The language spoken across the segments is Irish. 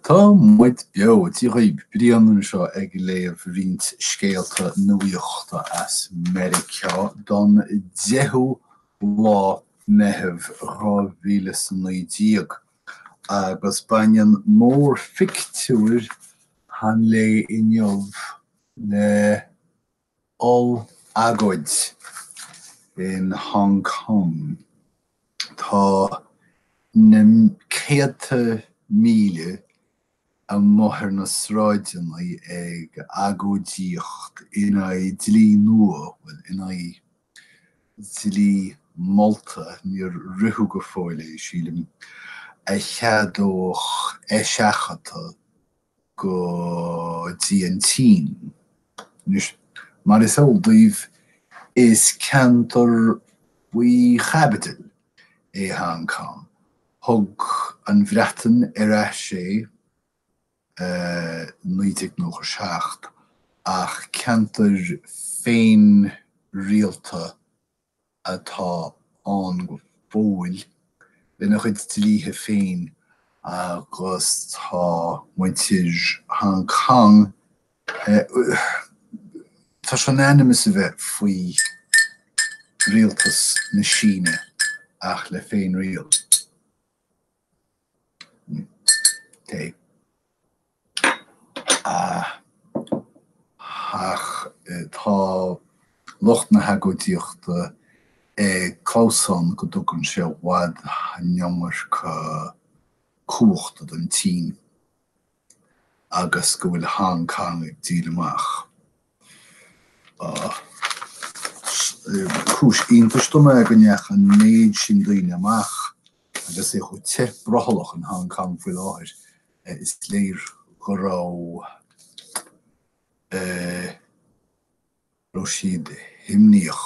Tá muid beo! Dia dhaoibh! Brian anseo ag léamh roinnt scéalta nuaíochta as Meiriceá don 10ú lá Meitheamh 2019 agus baineann mórphictiúir an lae inniu le. oll-agóid in Hong Cong. Tá na céadta míle amuigh ar na sráideanna ag agóidíocht in aghaidh dlí nua, bhuel, in aghaidh dlí molta, níor ritheadh go fóill é, sílim, a cheadódh eiseachadadh go dtí an tSín. Anois, mar is eol daoibh, is ceantar faoi chaibidil é Hong Cong. Thug an Bhreatain ar ais é i 1997 ach ceantar féinrialta atá ann go fóill, lena chuid dlíthe féin agus tá muintir Hong Cong, tá sé in ainm is a bheith faoi rialtas na Síne ach le féinriail. ach tá lucht na hagóidíochta ag clamhsán go dtugann sé i bhfad an iomarca cumhachta don tSín agus go bhfuil Hong Cong ag díol amach. Is cúis iontais dom é go ndeachaigh an méid sin daoine amach agus é chomh te brothallach in Hong Kong faoi láthair. Is léir go raibh siad himníoch.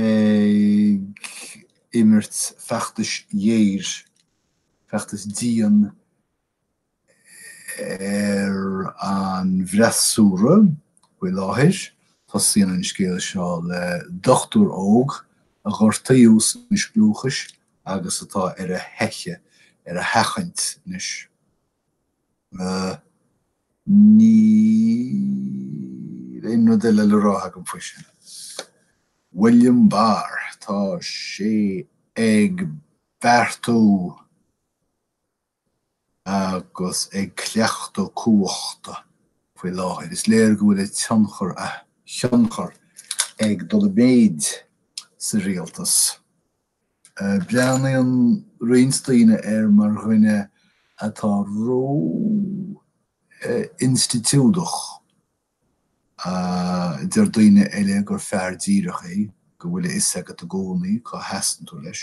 ag imirt feachtais ghéir, feachtas dian ar an bhfreasúra faoi láthair. Tosaíonn an scéal seo le dochtúir óg a gortaíodh sna scliúchais agus atá ar a theicheadh, ar a sheachaint anois. Níl aon rud eile le rá agam faoi sin. William Barr, tá sé ag beartú agus ag cleachtadh cumhachta faoi láthair. Is léir go bhfuil a tionchar, a thionchar ag dul i méid sa rialtas. Breathnaíonn roinnt daoine air mar dhuine atá ró-institiúideach. Deir daoine eile gur fear díreach é, go bhfuil a fhios agat i gcónaí cá sheasann tú leis.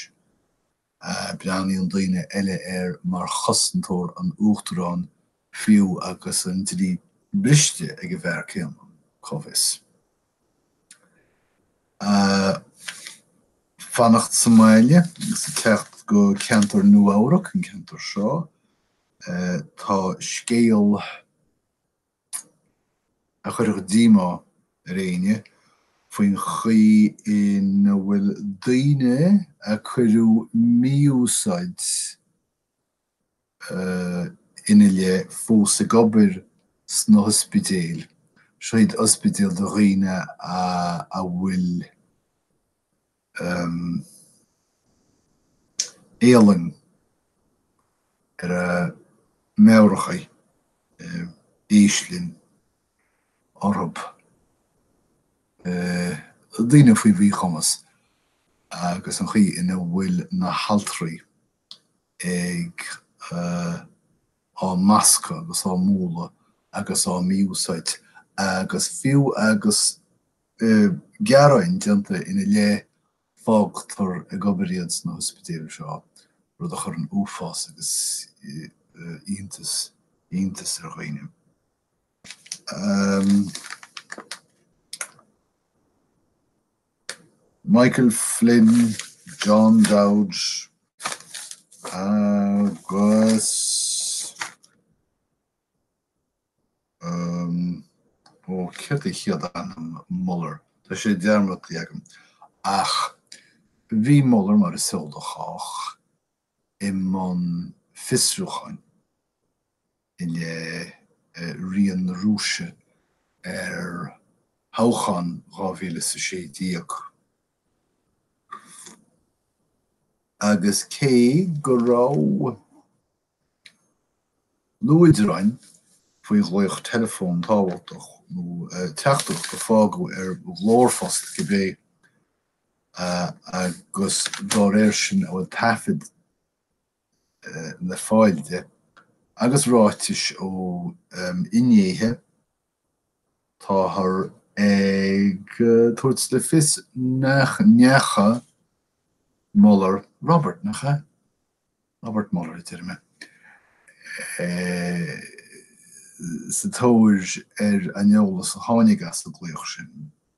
Breathnaíonn daoine eile air mar chosantóir an Uachtaráin fiú agus an dlí briste ag an bhfear céanna, cá bhfios? a fanacht sa mbaile agus a theacht go ceantar Nua-Eabhrac, an ceantar seo. Tá scéal a chuirfeadh díomá ar éinne faoin chaoi ina bhfuil daoine a cuireadh mí-úsáid, ina leith fós ag obair sna hospidéil, seo iad ospidéil do dhaoine a bhfuil éalang ar a meabhair acu, éislinn orthu, daoine faoi mhíchumas, agus an chaoi ina bhfuil na haltraí ag á mbascadh agus á mbualadh agus á mí-úsáid agus fiú agus gearáin déanta ina leith fágtar ag obair iad sna hospidéil seo, rud a chuireann uafás agus iontas iontas ar dhaoine. Michael Flynn, John Dowd agus ó céard é chéad ainm Mueller? Tá sé dearmadta agam. Ach bhí Mueller mar is eol do chách. i mbun fiosrúcháin i leith rian na Rúise ar thoghchán 2016 agus cé go raibh luaidreáin faoi ghlaoch teileafóin tábhachtach nó teachtaireacht a fágadh ar ghlórphost, cibé, agus dá réir sin a bhfuil taifead le fáil de agus ráitis ó fhinnéithe, táthar ag tabhairt le fios nach ndeachaigh Mueller, Robert, nach ea? Robert Mueller, déarfainn é, sa tóir ar an eolas a tháinig as an nglaoch sin.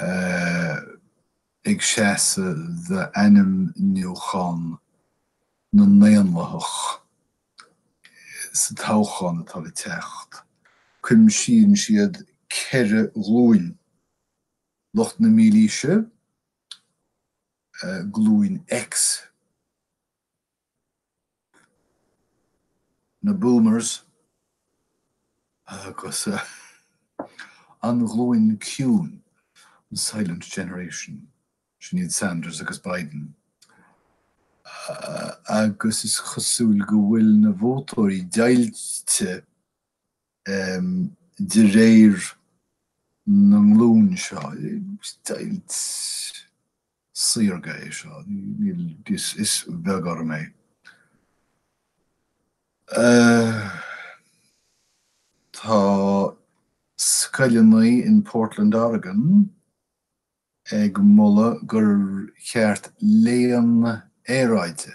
ii, ag seasamh d'ainmniúchán na nDaonlathach sa toghchán atá le teacht. Cuimsíonn siad ceithre ghlúin, lucht na Mílaoise, Glúin X, na Boomers agus an ghlúin ciúin, an Silent Generation, sin iad Sanders agus Biden, agus is cosúil go bhfuil na vótóirí deighilte de réir na nglún seo, deighilt. saorga é seo. Is beag orm é. Tá scoileanna in Portland Oregon ag moladh gur cheart léann aeráide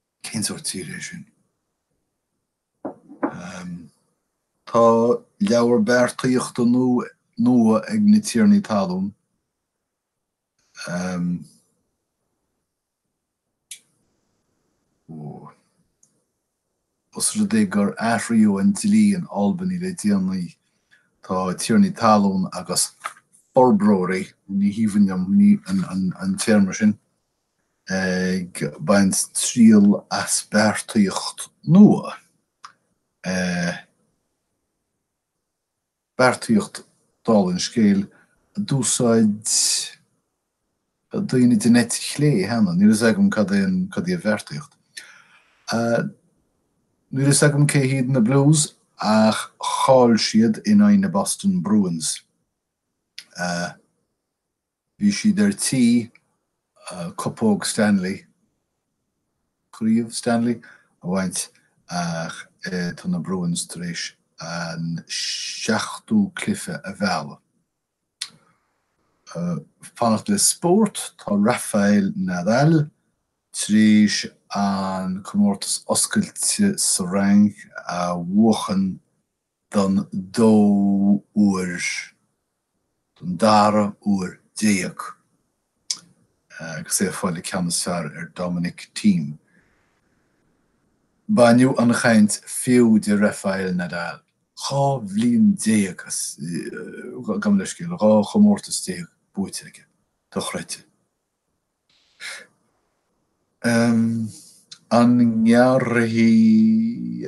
Cén sórt tír é sin? Tá leabhar beartaíochta nua ag na tiarnaí talún os rud é gur athraíodh an dlí in Albany le déanaí. Tá tiarnaí talún agus forbróirí, ní haoibhinn liom an téarma sin, ag baint triail as beartaíocht nua, beartaíocht, dála an scéil, a d'úsáid daoine den eite chlé cheana, níl a fhios agam cad é an, cad í an bheartaíocht. Níl a fhios agam cé hiad na Blues ach chaill siad in aghaidh na Boston Bruins. Bhí siad ar tí Cupóg Stanley, Craobh Stanley, a bhaint ach tá na Bruins tar éis an seachtú cluiche a mhealladh. Fanacht le spórt, Tá Rafael Nadal tar éis an comórtas oscailte sa Fhrainc a bhuachan don dóú huair, don dara huair déag, agus é ag fáil an ceann is fearr ar Dominic Thiem. Baineadh an chaint fiú de Rafael Nadal, dhá bhliain déag, gabh mo leithscéal, dhá chomórtas déag buaite aige, dochreidte. An ngearrfaidh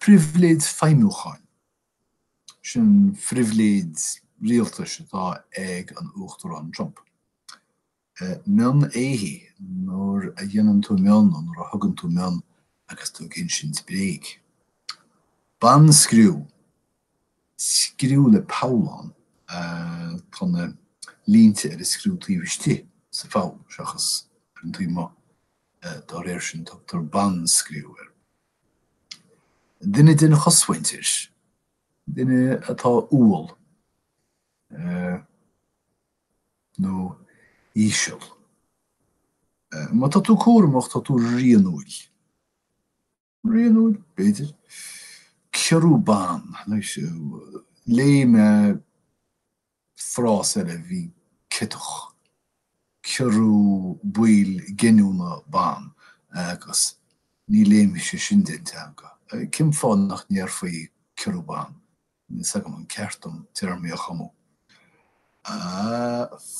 Pribhléid feidhmiúcháin. Sin an phribhléid rialtais atá ag an Uachtarán Trump. Mionn éithigh, nuair a dhéanann tú mionn nó nuair a thugann tú mionn agus tú ag insint bréag. Ban-scriú. Scriú le poll ann. Tá na línte ar an scriú taobh istigh sa pholl seachas ar an taobh amuigh. Dá réir sin, tugtar 'ban-scriú' ar dhuine den chosmhuintir, duine atá umhal nó íseal. Má tá tú cúramach, tá tú rianúil. Rianúil, b'fhéidir. Ciorrú ban. Léigh mé frása eile a bhí ciotach. Ciorrú baill giniúna ban. Agus ní léimfeadh sé sin den teanga. Cén fáth nach ndéarfaí ciorrú ban? níl 's agam an ceart dom téarmaí a chumadh,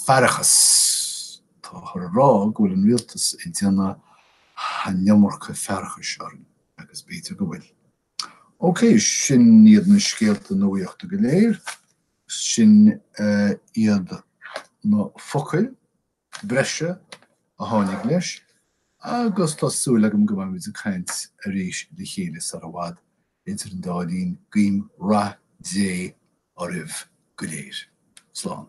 faireachas. Táthar ag rá go bhfuil an Rialtas ag déanamh an iomarca faireachais orainn, agus b'fhéidir go bhfuil. OK, sin iad na scéalta nuachta go léir, sin iad na focail. breise a tháinig leis agus tá súil agam go mbeimid ag caint arís le chéile sar i bhfad. Idir an dá linn, guím rath Dé oraibh go léir. Slán.